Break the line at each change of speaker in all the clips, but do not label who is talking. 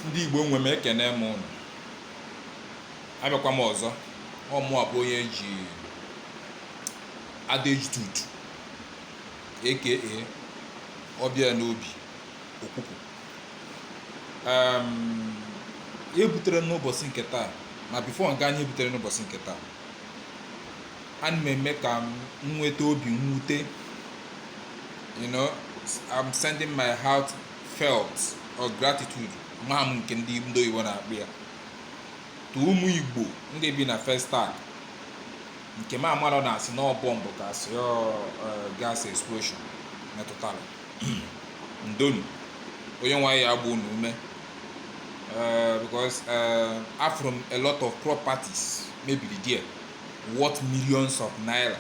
ndị Igbo nwe m ekene m ụnụ abịakwa m ọzọ ọ mụa bụ onye eji adejtut aka ọbịa n'obi okwukwu ihe butere n'ụbọchị nke taa ma before nke anyị butere n'ụbọchị nke taa ana m eme ka m nweta obi mwute you know i'm sending my heart felt or gratitude ma m nke ndị ndị oyibo na-akpọ ya to ụmụ igbo ndị bi na festac nke m amarọ na asị na ọ bọmbụ ka asị ọ eh, gas explosion metụtara ndo nụ onyenwe anyị ya agba unu ume eh, because eh, afụrụ m a lot of properties mebiri there worth millions of naira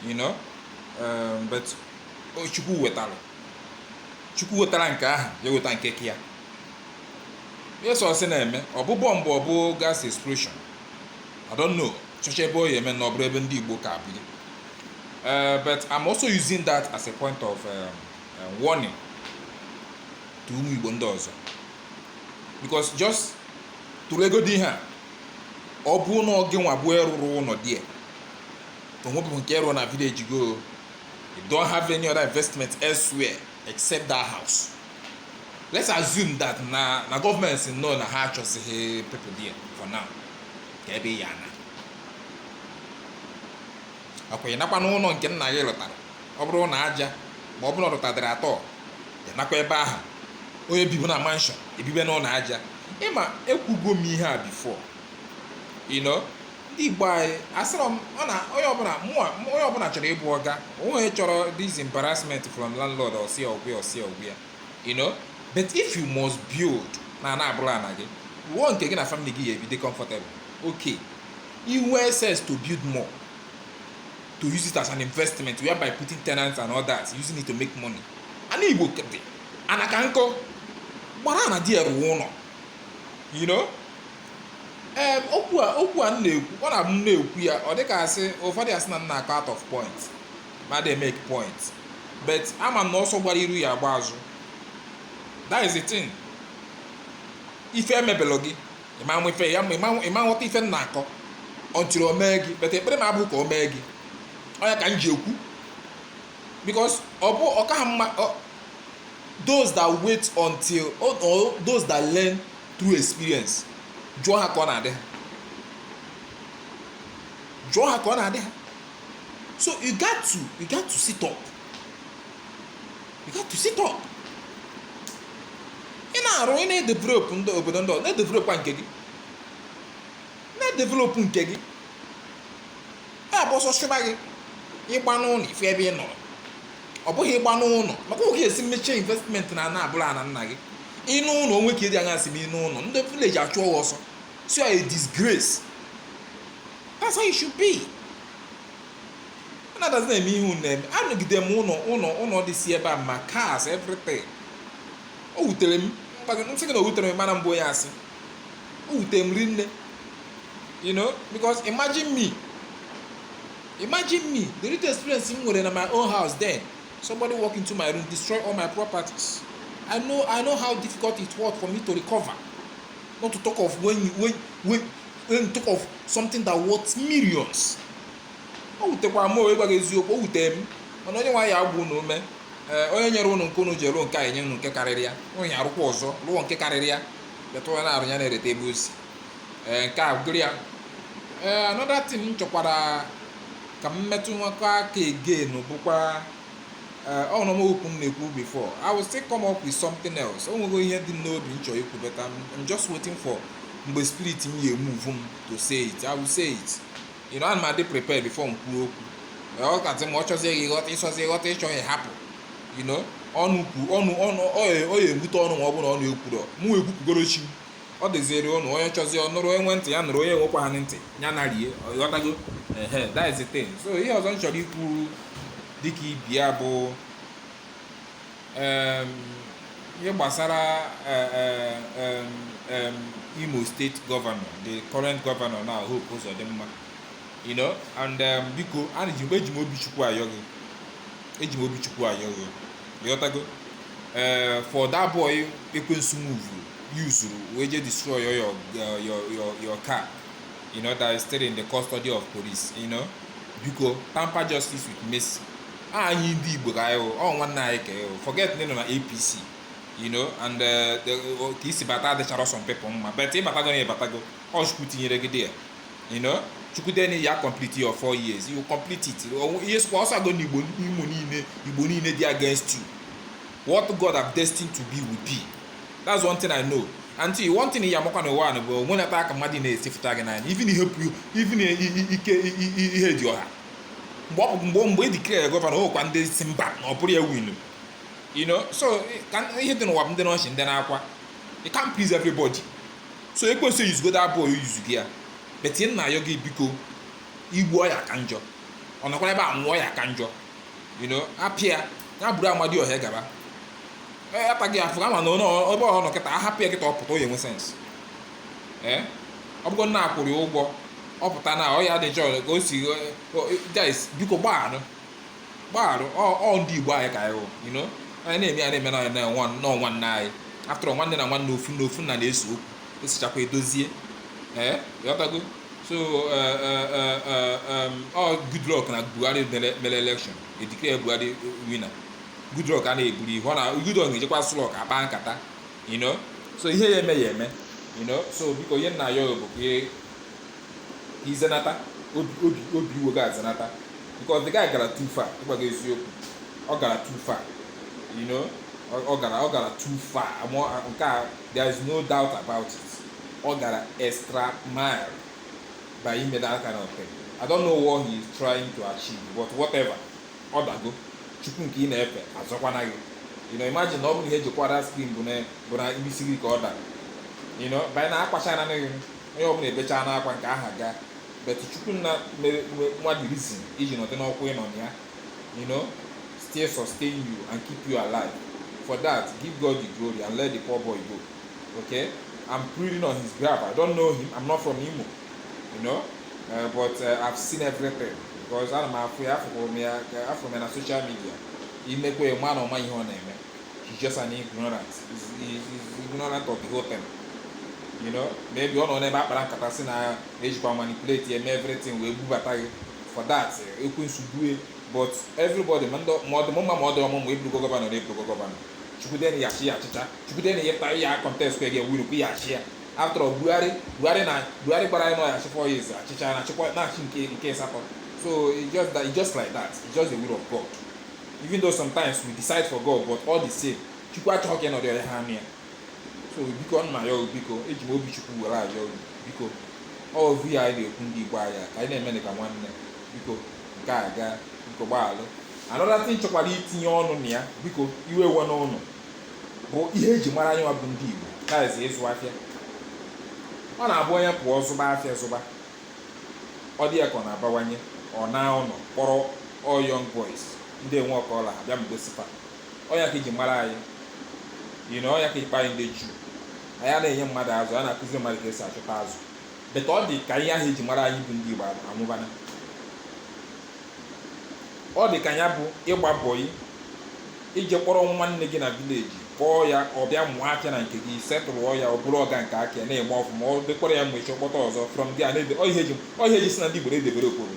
you know um, but o- chukwu wetara chukwu wetara nke ahụ ya eweta nke ka ya yes o si na-eme ọ bụ bọmbụ ọ bụ gas explosion i don't know chọcha ebe ọ ya eme na ọ bụrụ ebe ndị igbo ka biri Uh, but I'm also using that as a point of um, uh, warning to ụmụ Igbo ndị ọzọ because just tụlegodi ihe a ọ bụ na ọ gị nwa bụ ịrụrụ ụlọ there o nwebeghị nke ịrụ na village gị o you don't have any other investment elsewhere except that house let's assume that na na government sị no na ha achọzighị people there for now ka ebe ị ya ana ọkwa ịnakwa n'ụlọ nke nna gị lụtara ọ bụrụ na aja ma ọ bụrụ na ọ lụtadịrị at all ịnakwa ebe ahụ onye bibu na mansion ebibe n'ụlọ aja ịma ekwugo m ihe a before you know ndị igbo anyị asịrọ m ọ na onye ọbụla mụa onye ọbụla chọrọ ịbụ ọga onye chọrọ this embarrassment from landlord ọsịa ọgwụ ya ọsịa ọgwụ ya you know but if you must build na ana abụrọ ana gị wuo nke gị na family gị ya ebi dị comfortable okay ị nwee access to build more to use it as an investment whereby putting tenants and all that using it to make money ana igbo ka dị ana ka nkọ gbara ana di ya rụwa ụlọ you know ee okwu a okwu a m na-ekwu ọ na-abụ m na-ekwu ya ọ dịka asị ụfọdụ asị na m na-akọ out of point ma dey make point but ama m na ọsọ gbara iru ya agba azụ that is the thing ife emebelọ gị ịma nwa ife ya ma ịma nwa- ịma aghọta ife m na-akọ until o mee gị but ekpere m abụ ka o mee gị ọ ya ka m ji ekwu because ọ bụ ọ kaghị mma ọ- those that wait until or, or those that learn through experience jụọ ha ka ọ na-adị ha jụọ ha ka ọ na-adị ha so you got to you got to sit up you got to sit up ị na-arụ ị na-edevelop ndị obodo ndị ọzọ na-edevelopkwa nke gị na-edevelop nke gị ha bụ ọsọ chụba gị ịgba n'ụlọ ị fụ ebe ị nọrọ ọ bụghị ịgba n'ụlọ maka oge esi mechie investment na ana abụrọ ana nna gị ị naa ụlọ onwe ka ịdị anya si m ị naa ụlọ ndị village achụọ gị ọsọ it's a disgrace that's how it should be anadazi na-eme ihe unu na-eme anọgide m ụlọ ụlọ ụlọ dị si ebe a ma cars everything o wutere m m gwa gị m sị gị na o wuterọ m mana m bụ onye asị o wute m rinne you know because imagine me imagine me the little experience m nwere na my own house then somebody walk into my room destroy all my properties i know i know how difficult it was for me to recover not to talk of when you when when when talk of something that worth millions o wutekwara m e wee gwa gị eziokwu o wute m mana Onyenwe anyị agbaa unu ume ee onye nyere unu nke unu ji rụọ nke a enye unu nke karịrị ya onye arụkwa ọzọ rụọ nke karịrị ya but onye na-arụ ya na-echeta ebe o si ee nke a bụrụ ya ee another thing m chọkwara ka m metụ nwekọ aka again bụkwa ee ọ nọ m okwu m na-ekwu before I will still come up with something else o nwego ihe dị m n'obi m chọrọ ikwu but I'm I'm just waiting for mgbe spirit m ya-emove m to say it I will say it you know, ana m adị prepared before m kwuo okwu ọ katị ma ọ chọzie gị ghọta ị chọzie ghọta ị chọghị hapụ you know, ọnụ kwu ọnụ ọnụ ọ ya ọ ya-ewute ụnụ ma ọ bụrụ na ụnụ ekwurọ mụ ekwupụgoro chi m. ọ dịziri ụnụ onye chọzie ọ nụrụ onye nwe ntị ya nụrụ onye enwekwaghị ntị ya na rie ị ghọtago ehe that is the thing so ihe ọzọ m chọrọ ikwu dịka ibi ya bụ um ihe gbasara um um Imo State governor the current governor now Hope Uzodimma you know and um, biko ana ji eji m obi chukwu ayọ gị eji m obi chukwu ayọ gị ịghọtago ee eh, for that boy ekwensu move yuzuru wee je destroy your your your your, your car you know that is still in the custody of police you know biko tamper justice with mercy anyị ndị igbo ka anyị ọ nwanne anyị ka anyị forget na ọ nọ na apc you know and uh, ka i si bata adịcharọ some people mma but ị batago na ị batago ọ chukwu tinyere gị there you know chukwu dee na ị ya complete your four years you complete it ihe sịkwa ọsọ agụ na igbo imo niile igbo niile dị against you what god have destined to be will be that's one thing i know and see one thing ya amakwa n'ụwa bụ onwe na-ata aka mmadụ na-esifụta gị n'anya even ihe ike ihe dị ọha mgbe ọ bụ mgbe mgbe e declare gọvanọ ọ kwa ndị sị mba na ọ bụrọ ya winu you know so ka ihe dị n'ụwa bụ ndị n'ọchị ndị na-akwa you can't please everybody so ekwensu eyuzugo that boy yuzu gị ya but ihe m na-ayọ gị biko i gbuo ya ka njọ ọ nọkwara ebe a nwụọ ya ka njọ you know apịa ya bụrụ amadi ọhịa gaba ataghị afụ ama na ebe ọ nọ kịta ahapụ ya kịta ọ pụta ọ ya-enwe sense ee ọ bụgo na a kwụrụ ya ụgwọ ọ pụta na ọ ya dị njọ ka o si guys biko gbagharụ gbagharụ ọ ndị igbo anyị ka anyị hụ you know anyị na-eme ya na-eme na nwanne anyị after nwanne na nwanne ofu nna ofu nna na-ese okwu esichakwa edozie ị ghọtago so ọ Goodluck na Buhari mere election e declare Buhari winner Goodluck a na-eburu iro na Goodluck na-ejekwa Aso Rock akpa nkata you know so ihe ya-eme ya-eme you know so biko ihe m na-ayọ bụ ka ị- ka i zenata obi obi obi iwe gị ezenata because the guy gara too far ịgwa gị eziokwu ọ gara too far you know ọ- ọ gara ọ gara too far ama m nke a there is no doubt about it ọ gara extra mile by ime that kind of thing i don't know what he is trying to achieve but whatever ọ dago chukwu nke ị na-efe azọkwana gị you know imagine na ọ bụrụ ihe e ji kụwa screen bụ na bụ n'isi gị ka ọ dara you know by now akwachana gị onye ọbụla ebechana akwa nke a ha gaa but chukwu nna mere nwa the reason iji nọdị n'ọkwa ịnọ na ya you know still sustain you and keep you alive for that give god the glory and let the poor boy go okay i'm pleading on his behalf i don't know him i'm not from imo you know uh, but uh, I've seen everything because ana m afụ ya afụrụ m ya afụrụ m ya na social media i nekwa ya ma na ọ ma ihe ọ na-eme he's just an ignorant he's, he's, he's ignorant of the whole thing you know maybe ọ nọ n'ebe akpara nkata sị na e jikwa manipulate ya eme everything wee bubata gị for that ekwensu due but everybody ma ndị ma ọ dị mma ma ọ dị ọmụ ma ị bụrụgo gọvanọ na ị bụrụgo gọvanọ chukwu dee na ị ya-achị ị ya-achịcha chukwu dee na ị ya-apụta ị ya-contest kwa ị ya-win kwa ị ya-achị ya after all buhari buhari na buhari gwara anyị na ọ ya-achị four years achịcha na-achịkwa na-achị nke nke asatọ so it's just that it's just like that it's just the will of god even though sometimes we decide for god but all the same chukwu achọghị ka ị nọdụ ya ha anọ ya so biko m na-ayọ biko eji m obi chukwu were ayọ biko ọ vụ ihe anyị na-ekwu ndị igbo anyị ka anyị na-eme ka nwanne biko nke a gaa biko gbaghalụ another thing m chọkwara itinye ọnụ na ya biko iwe ewena unu bụ ihe eji mara anyị bụ ndị Igbo na-ezi ịzụ afịa ọ na-abụ onye pụọ zụba afịa zụba ọ dị ya ka ọ na-abawanye ọ naa ụlọ kpọrọ all young boys ndị enwerọ ka ọ la ha bịa mgbe sipa ọ nya ka eji mara anyị you know ọ nya ka akpọ anyị ndị Juu anyị na-enye mmadụ azụ a na-akụzi mmadụ ka esi achụta azụ but ọ dị ka ihe ahụ eji mara anyị bụ ndị Igbo anwụbana ọ dị ka ya bụ ịgba boy i je kpọrọ nwanne gị na village kpọọ ya ọ bịa mụọ afịa na nke gị setụlụọ ya ọ bụrụ ọga nke aka ya na-eme ọfụma ọ dịkwara ya mma o je kpọta ọzọ from there na-ede ọ ihe eji ọ ihe eji sị na ndị Igbo na-edevelop obodo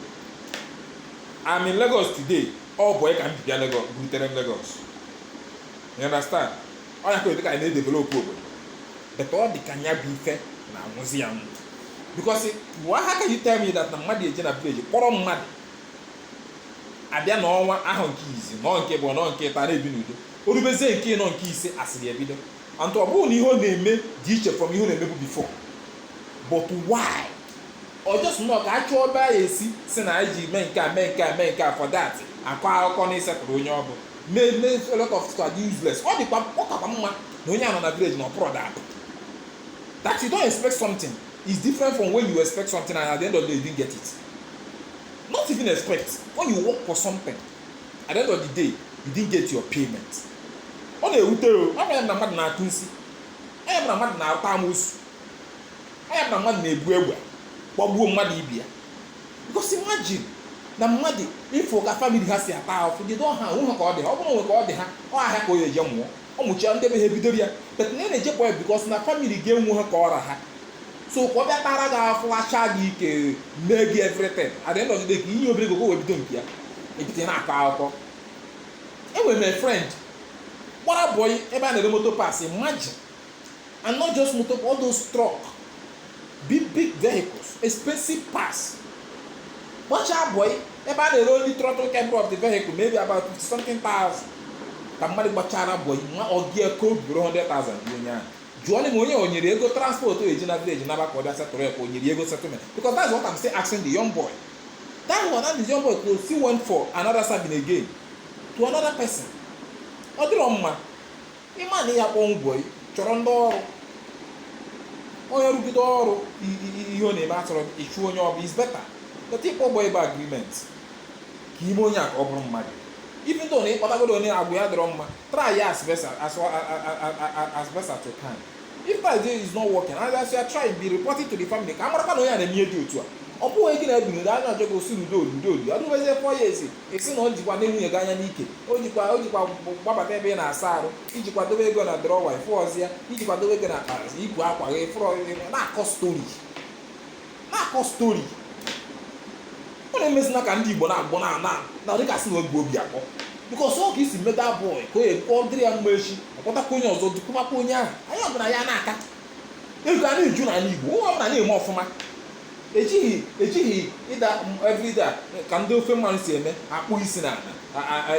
I'm in Lagos today ọ boy ka m ji bịa Lagos butere m Lagos you understand ọ ya ka ọ dị ka anyị na-edevelop obodo but ọ dị ka ya bụ ife na-anwụzi anwụ because why how can you tell me that na mmadụ eje na village kpọrọ mmadụ abịa na ọ nọọ ahọ nke izi nọọ nke ịbụọ nọọ nke ịtọ a na-ebi n'udo o rubezie nke ịnọ nke ise asịrị ebido and ọ bụrọ na ihe ọ na-eme dị iche from ihe ọ na-emebu before but why ọ just na ka a chọọ ebe a ya-esi sị na anyị ji mee nke a mee nke a mee nke a for that akọ akụkọ na isettle onye ọ bụ mee mee a lot of things are useless ọ dịkwa ọ kakwa mma na onye a nọ na village na ọ pụrọ dapụ that you don't expect something is different from when you expect something and at the end of the day you didn't get it not even expect when you work for something at the end of the day you didn't get your payment ọ na-ewute o ọ bụrụ na mmadụ na-atụ nsi ọ bụrụ na mmadụ na-ata amosu ọ nya na mmadụ na-ebu egbe gbagbuo mmadụ ibe ya because imagine na mmadụ ịfụ ka family ha si ata ahụfụ they don't have o nwerọ ka ọ dị ha ọ bụrụ o nwe ka ọ dị ha ọ ahịa ka ọ ya-eje mụọ ọ mụchia ndị be ha ebidoro ya but na ị na-ejepụ ya because na family ya enwerọ ka ọ ra ha so ka ọ bịa tara gị afụfụ racha gị ike mee gị everything at the end of the day ka i nye obere ego ka o wee bido nke ya ebido na-akọ akụkọ enwere m a friend gbara boy ebe a na-ere motor parts imagine and not just motor all those truck big big vehicles expensive parts gbachaa boy ebe a na-ere only throttle cable of the vehicle maybe about 50 something thousand ka mmadụ gbachara boy nwa ọga ya ka o buru 100,000 nye onye ahụ jụọ m onye o nyere ego transport o eji na village naba ka ọ bịa settle ya ka o nyere ego settlement because that's what I'm still asking the young boy that one and the young boy still went for another serving again to another person ọ dịrọ mma ị ma na ị ya akpọ boy chọrọ ndị ọrụ onye rụgide ọrụ ihe ọ na-eme atọrọ ị chụọ onye ọ bụ it's better but ịkpọ boy bụ agreement ka ime onye a ka ọ bụrụ mmadụ even though na ịkpọtagodo onye agwa ya adịrọ mma try ya as best as best as you can if that day is not working and as you are trying be reporting to the family ka a marakwa na onye a na-eme ihe dị otu a ọ bụghị gị na ya ebiri na a na-ajọ gị osi n'udo n'udo n'udo o rubezie four years ị sị na o jikwa ne nwunye gị anya n'ike o jikwa o jikwa gbabata ebe ị na-asa arụ ị jikwa dobe ego na drọwa ị fụrọzi ya ị jikwa dobe ego na akpa ibu akwa gị fụrọ na-akọ stori na-akọ stori unu emezina ka ndị Igbo na-agbọ na na na dịka sị na obi obi akpọ bikos ọ ka i si meta bọị ka ọ dịrị ya mma echi ọ kpọtakwa onye ọzọ dukwumakwa onye ahụ anyị ọbụla ya na-aka ego a na-eju n'ala Igbo onye ọbụla na-eme ọfụma ejighị ejighị ịda everyday ka ndị ofe mmanụ si eme akpụ isi na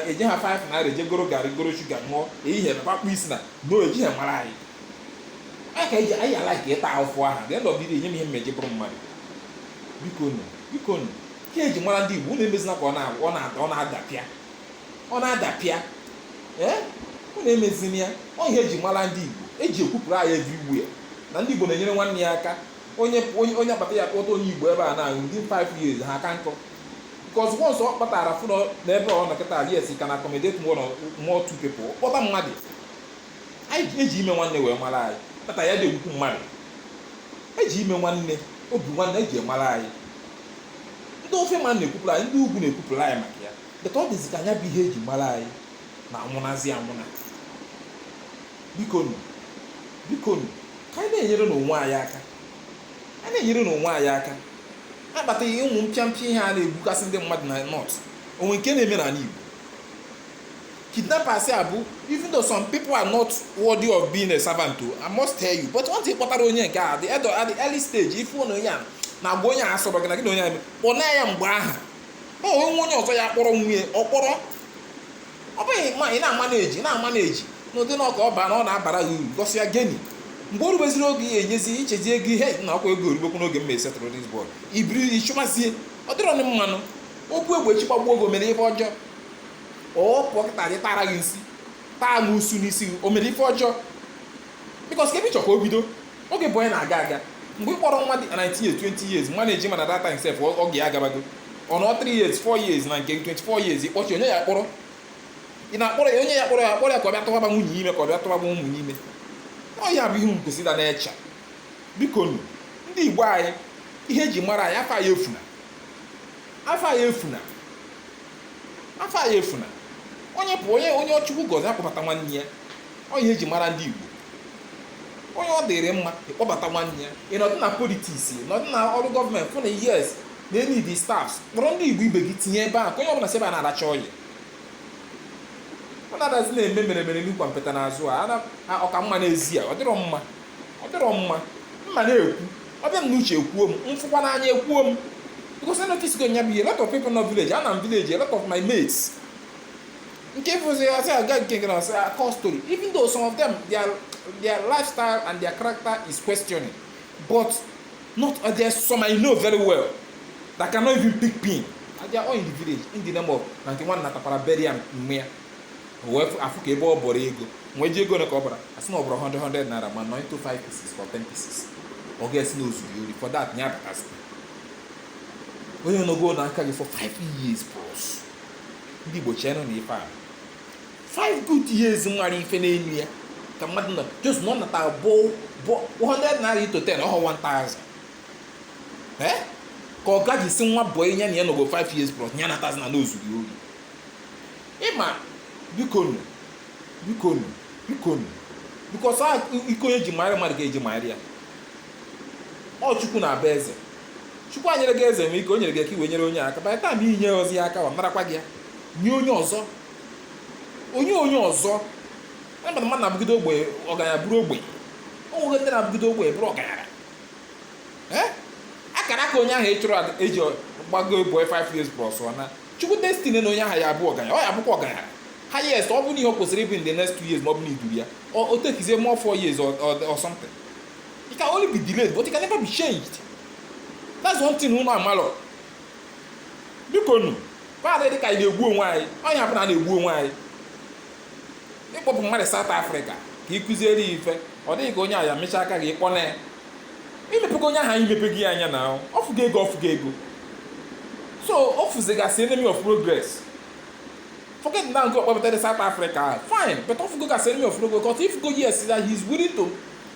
eje ha 5 naira eje goro garị goro shuga ṅụọ ehihie na akpụ isi na no ejighị mara anyị anyị ka eji anyị ala ka ịta ahụfụ aha ga ndị ọbịdị enye m ihe m eji bụrụ mmadụ biko nụ biko nụ ka eji mara ndị igbo unu emezina ka ọ na-ada ọ na-ada ọ na-adapịa ọ na-adapịa ee unu emezina ya ọ ihe eji mara ndị igbo eji ekwupụrụ anyị everywhere na ndị igbo na-enyere nwanne ya aka onye onye onye akpata ya kpọta onye igbo ebe a na within 5 years ha aka nkọ because once ọ kpatara fụnọ n'ebe ọ nọ kịta yes he can accommodate more than more two people kpọta mmadụ anyị ji- eji ime nwanne wee mara anyị kpata ya na-egwukwu mmadụ eji ime nwanne obi nwanne eji mara anyị ndị ofe mmanụ na-ekwupụrụ anyị ndị ugwu na-ekwupụrụ anyị maka ya but ọ dịzi ka nya bụ ihe eji mara anyị na-anwụnazi anwụna bikonu bikonu ka anyị na-enyere nụ onwe anyị aka a na-enyere nụ onwe anyị aka akpataghị ụmụ mpịampịa ihe a na-egbukasị ndị mmadụ na north o nwe nke na-eme n'ala Igbo kidnappers a bụ even though some people are not worthy of being a servant o I must tell you but once ị kpọtara onye nke a at the early at the early stage ị fụ na onye a na agwa onye a asọrọ gị na gị na onye a kpọna ya mgbe ahụ o nwe onye ọzọ ya kpọrọ nwunye ọ kpọrọ ọ bụghị ma ị na-amaneji na-amaneji n'ụdị na ọka ọ baa na ọ na-abara gị uru gosi ya gịnị mgbe o rubeziri oge ya enyezi ị chezi ego ihe na ọkwa ego o rubekwu n'oge m ma esetụlụ dis bọị ị bido chụmazie ọ dịrọ nụ mma nụ o bu egbe echi gbagbuo gị o mere ife ọjọọ ọ pụọ kịta je tara gị nsi taa gị usu n'isi gị o mere ife ọjọọ bikos ka ebe ị chọ ka o bido oge bụ onye na-aga aga mgbe ị kpọrọ nwa dị 19 years 20 years maneji mana that time sef oge ya agabago ọ nọ 3 years 4 years na nke 24 years ịkpọchi onye ya kpọrọ ị na-akpọrọ ya onye ya kpọrọ ya kpọrọ ya ka ọ bịa tụwaba nwunye ime ka ọ bịa tụwaba ụmụ m ime ọ ya bụ ihe ị kwesị ịda na-eche biko nu ndị igbo anyị ihe eji mara anyị afa anyị efuna afa anyị efuna afa anyị efuna onye bụ onye onye Chukwu gọzi ya kpọbata nwanne ya ọ ihe eji mara ndị Igbo onye ọ dịrị mma ịkpọbata nwanne ya ị nọdụ na politics nọdụ na ọrụ gọọmenti fụ na yes na e need staffs kpọrọ ndị Igbo ibe gị tinye ebe a ka onye ọbụla si ebe a na-aracha oil ọ na-adazi na-eme mere mere n'ihu kwampịta n'azụ a ọka mma n'ezi a ọ dịrọ mma ọ dịrọ mma m ma na-ekwu ọ bịa m n'uche ekwuo m m fụkwa n'anya ekwuo m because I notice go nya bụ ihe a lot of people nọ village ana m village a lot of my mates nke fụzi ya sị aga nke gara sị akọ story even though some of them their their lifestyle and their character is questioning but not uh, there's some I know very well that cannot even pick pin and they are all in the village in the name of na nke nwanna tapara bury am mme ya O wee fụ- afụ ka ebe ọ bọrọ ego nwee ji ego ole ka ọ bara asị na ọ bụrụ 100 100 naira ma 9 to 5 pieces or 10 pieces ọga asị na o zuru ori for that ya abatazi onye nọgo n'aka gị for 5 years plus ndị Igbo cheenụ na ife a five good years nwere ife n'elu ya ka mmadụ nọ just na ọ nata bụ bụ 100 naira into 10 ọ họ 1000 ee ka ọga ji sị nwa bọyị ya na ya nọgo 5 years plus ya natazi na o zuru ori ịma bikonu bikonu bikonu because iko onye ji mara mmadụ ka eji mara ya ọ chukwu na-abụ eze chukwu nyere gị eze nwe ike o nyere gị ka i wee nyere onye aka by the time i nyerozi ya aka ọ narakwa gị ya nye onye ọzọ onye onye ọzọ a mmadụ mmadụ na-abụgide ogbe ọgaranya bụrụ ogbe o nwere ndị na-abụgide ogbe bụrụ ọgaranya Eh? akara aka onye ahụ ị chụrụ ada- eji gbago boy 5 years plus ọ na chukwu destine na onye ahụ ya abụ ọgaranya ọ ya abụkwa ọgaranya highest ọ bụ na ihe o kwesịrị ịbụ in the next 2 years ma ọ bụ na iduru ya o o takezie more 4 years or, or, or something It can only be delayed, but it can never be changed. That's one thing unu amalọ. Biko nu, paadị dị ka anyị na-egbu onwe anyị, onye ọbụla na-egbu onwe anyị. Ị kpọpụ mmadụ South Africa ka ị kụziere ya ife, ọ dị gị ka onye ahụ ya emechaa ka gị ị kpọnaa ya. I mepego onye ahụ anya i mepego ya anya na ahụ, ọ fụgo ego ọ fụgo ego. So ọ fụzi gị as enemy of progress. Forget na ọ gị kpọpụtara ya South Africa, fine, but ọ fụgo gị as enemy of progress, because ị fụgo yes, that he is willing to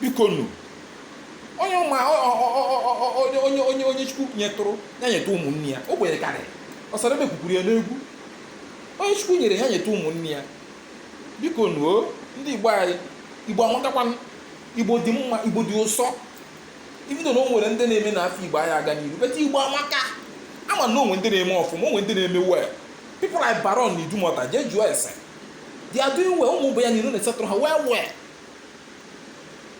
biko nu onye ụmụ onye onye onye onye chukwu nyetụrụ ya nyetụ ụmụnne ya ogbenye karịrị Osadebe kwukwuru ya n'egwu onye chukwu nyere ya nyetụ ụmụnne ya biko nu o ndị igbo anyị igbo amakakwa igbo dị mma igbo dị ụsọ even though na o nwere ndị na-eme na afa igbo anaghị aga n'iru but igbo amaka ama m na o nwe ndị na-eme ọfụma o nwe ndị na-eme well people like baron na idumọta jee jụọ ese they are doing well ụmụ boy ya niile na-esettle ha well well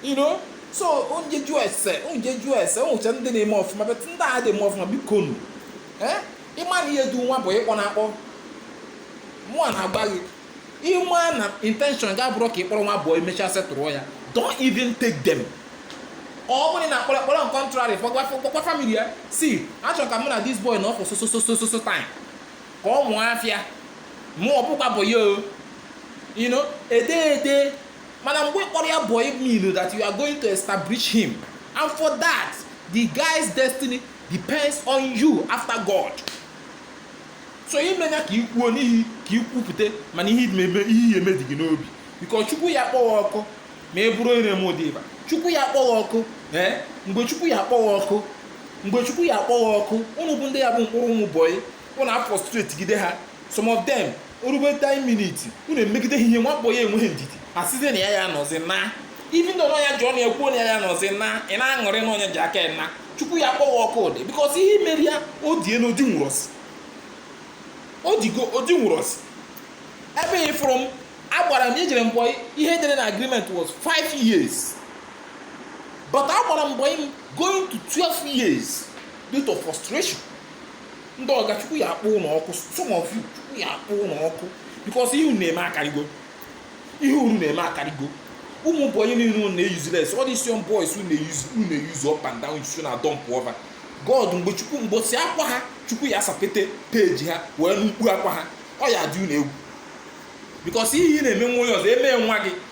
you know so onye jụọ ese onye jụọ ese onwecha ndị na-eme ọfụma but ndị adị eme ọfụma biko nu eh? ịma na ihe du nwa bụ ịkpọ na akpọ mụ a na-agba gị ịma na intention gị abụrọ ka ịkpọrọ nwa bọyị emechaa settle ya don't even take them ọ bụrụ na akpọrọ akpọrọ on contrary gwakwa family ya si achọrọ ka mụ na this boy nọ for so so so so so time ka ọ mụọ afịa mụ ọbụkwa bụ ya o you know ede ede mana mgbe ị kpọrọ ya boy mean that you are going to establish him and for that the guy's destiny depends on you after God so imenya ka ikwuo n'ihi ka ikwupụta mana ihe eme ihe eme dị gị n'obi because chukwu ya kpọọ ọkụ ma e bụrụ ire m ụdị ịba chukwu ya kpọọ ọkụ ee mgbe chukwu ya kpọọ ọkụ mgbe chukwu ya kpọọ ọkụ ụnụ bụ ndị ya bụ kpọrọ ụmụ bọyị unu afrustrate gide ha some of them orube time minute unu emegide ha ihe nwa bọyị enweghị ndidi asịzi na ya ya nọzi na even though na ọ nya ji ọnụ ya kwuo na ya ya nọzi na ị na-aṅụrị na ọ nya ji aka ya na chukwu ya kpọwa ọkụ ụdị because ihe i mere ya o die na odi nwerọ isi o digo odi nwerọ isi ebe ị fụrụ m agbara m ejere m bọyị ihe e dere na agreement was 5 years but agbara m bọyị going to 12 years due to frustration ndị ọga chukwu ya akpọ unu ọkụ some of you chukwu ya akpọ unu ọkụ because ihe unu na-eme akarịgo ihe unu na-eme akarịgo ụmụ bọyị niile na useless all these young boys unu na-euse up and down use and dump over god mgbe chukwu mbọsị akwa ha chukwu ya asapete peji ha wee nụ mkpu akwa ha ọ ya adị unu egwu because ihe ị na-eme nwa onye ọzọ eme nwa gị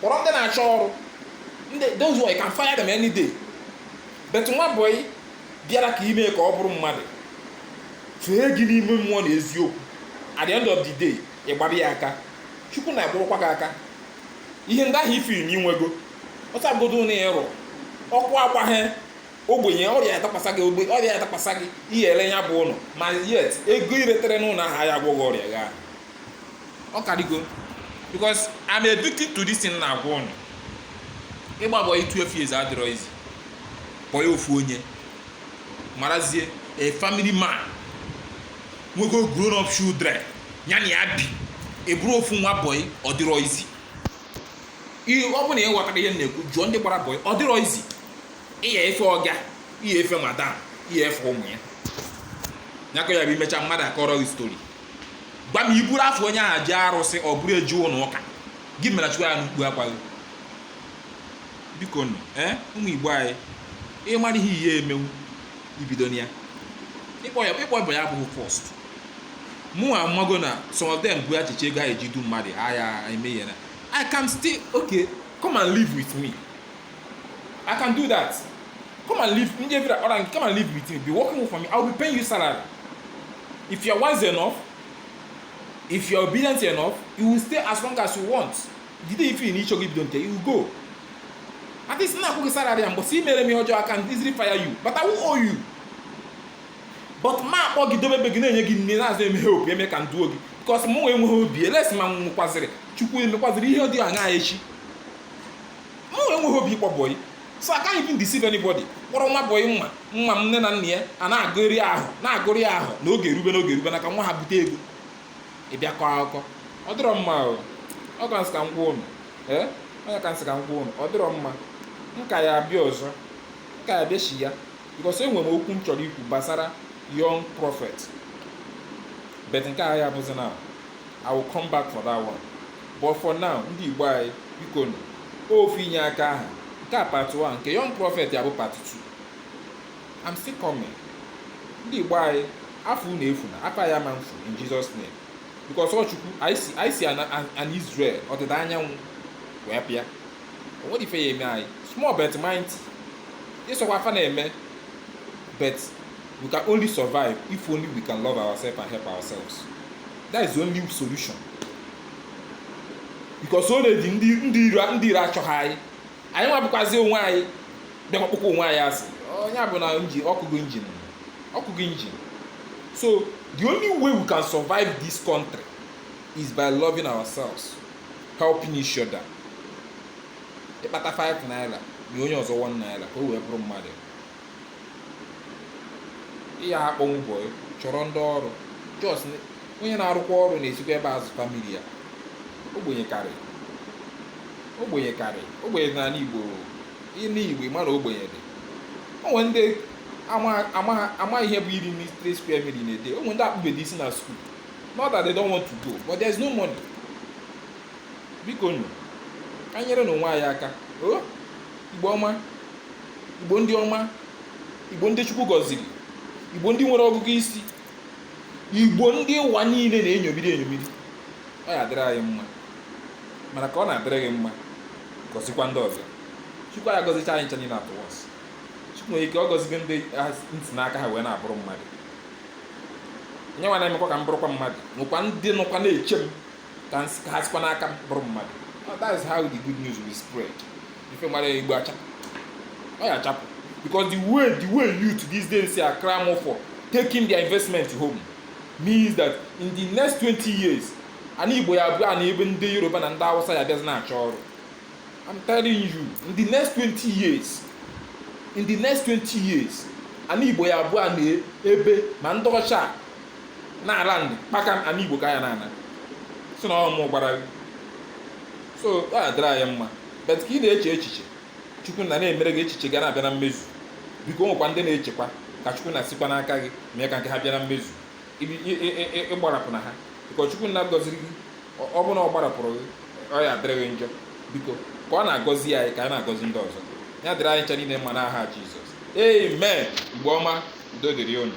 kpọrọ ndị na-achọ ọrụ ndị those who you can fire them any day but nwa bọyị bịara ka ime ka ọ bụrụ mmadụ fee gị n'ime mmụọ na eziokwu at the end of the day ị gbara ya aka chukwu na-agbakwa gị aka ihe ndị ahụ ifiri na inwego ọsọ agodo na ịrụ ọkụ agbaghị ogbenye ọrịa adakwasa gị ogbe ọrịa adakwasa gị ị ya ele ya bụ ụlọ ma yet ego iretere n'ụlọ ahụ ya agwọghị ọrịa gị ahụ ọ karigo because I'm a victim to this thing na-agwa ụnụ ịgba bọyị 12 years adịrọ easy bọyị ofu onye marazie a family man nwego grown up children ya na ya bi ị bụrụ ofu nwa bọyị ọ dịrọ easy ihe ọ bụrụ na ị ghọtarọ ihe m na-ekwu jụọ ndị gbara bọyị ọ dịrọ easy ịya efe ọga ịya efe madam ịya efe ụmụ ya nyakọ ya bụ imecha mmadụ akọrọ gị story gwa m iburu afa onye ahụ je arụsị ọ bụrụ eje ụlọ ụka gị mere chụọ ya n'ukpu akwa gị biko nụ ee ụmụ igbo anyị ịmara ihe ihe emenwu ibidona ya ịkpọ ya ịkpọ bọyị abụghị force mụ amago na some of them bụ echiche ego ha eji du mmadụ ha ya eme ihe na i can still okay come and live with me I can do that. Come and live. Ndị ebira ọra nke come and live with me. Be working for me. I will be paying you salary. If you are wise enough, if you are obedient enough, you will stay as long as you want. The day you feel n'ịchọ gị bido nke, you will go. At least na akwụ gị salary ya mbọsị imere m ihe ọjọọ I can easily fire you. But I will owe you. But ma akpọ gị dobe ebe gị na-enye gị nri na-azụ eme hope eme ka m duo gị. Because mụ enweghị obi unless ma m nwekwazịrị Chukwu emekwazịrị ihe dị aṅaa echi. mụ enweghị obi ịkpọ bọyị so I can't even deceive anybody kpọrọ nwa bọyị mma nwa m nne na nna ya a na-agụrị ahọ na-agụrị ahọ na oge erube na oge erube na ka nwa ha bute ego ịbịa kọọ akụkọ ọ dịrọ mma o ọ ka m sị ka m gwa ụnụ ee ọ ya ka m sị ka m gwa ụnụ ọ dịrọ mma m ka ya abịa ọzọ m ka ya abịa sha because enwere m okwu m chọrọ ikwu gbasara young prophet but nke a ya abụzi na I will come back for that one but for now ndị igbo anyị biko nụ ofu inye aka aha nke a part 1 nke young prophet ya bụ part 2 I'm still coming ndị igbo anyị afa unu efuna afa anyị ama efu in Jesus name because ọ chukwu anyị si anyị si ana- an- an Israel ọdịda anyanwụ wee pịa o nwedị ife ya eme anyị small but mighty ịsọkwa afa na-eme but we can only survive if only we can love ourselves and help ourselves that is the only solution because already ndị ndị iro ndị iro achọghị anyị anyị nwa bụkwazi onwe anyị bịakwa kpọkwa onwe anyị asị onye a bụ na engine ọ kụgo engine ọ kụgo engine so the only way we can survive this country is by loving ourselves helping each other ịkpata 5 naira nye onye ọzọ 1 naira ka o wee bụrụ mmadụ ya akpọnwu bọyị chọrọ ndị ọrụ just onye na-arụkwa ọrụ na-esikwa ebe a azụ family ya ogbenye karị ogbenye karị ogbenye n'ala igbo ana igbo mana ogbenye dị o nwe ndị ama ihe bụ iri three square meal in a day o nwe ndị akpụbedị isi na skuul not that they don't want to go but there's no money biko nụ ka nyere na onwe anyị aka o oh? igbo ọma igbo ndị ọma igbo ndị chukwu gọziri igbo ndị nwere ọgụgụ isi igbo ndị ụwa niile na-enyomiri enyomiri ọ ya adịrị anyị mma mana ka ọ na-adịrị gị mma gọzikwa ndị ọzọ chukwu ya gọzicha anyị ncha niile at once chukwu nwere ike ọ gọzigo ndị m si n'aka ha wee na-abụrụ mmadụ onye nwa na-emekwa ka m bụrụkwa mmadụ nwekwa ndị nọkwa na-eche m ka ha sikwa n'aka m bụrụ mmadụ that is how the good news will spread ife mara ya igbo achapụ ọ ya achapụ because the way the way youth these days are clamor for taking their investment home means that in the next 20 years ana igbo ya abụọna ebe ndị yoruba na ndị awụsa ya bịazi na-achọ ọrụ i'm telling you in the next 20 years in the next 20 years ana igbo ya abụọna ebe ma ndị ọcha na-ala ndị kpaka m ana igbo ka a ya na-ana sị na ọ mụ gwara gị so ọ ya adịrị anyị mma but ka ị na-eche echiche chukwu nna na-emere gị echiche gị na-abịa na mmezu biko o nwekwa ndị na-echekwa ka chukwu nna sikwa n'aka gị mee ka nke ha bịa na mmezu Ibi- ị- ị- ị- ị- agbarapụna ha biko chukwu nna gọziri gị ọ- ọ bụrụ na ọ gbarapụrụ gị ọ ya adịrị gị njọ biko ka ọ na-agọzi anyị ka anyị na-agọzi ndị ọzọ ya dịrị anyị ncha niile mma n'aha jizọs amen mgbe ọma udo dịrị unu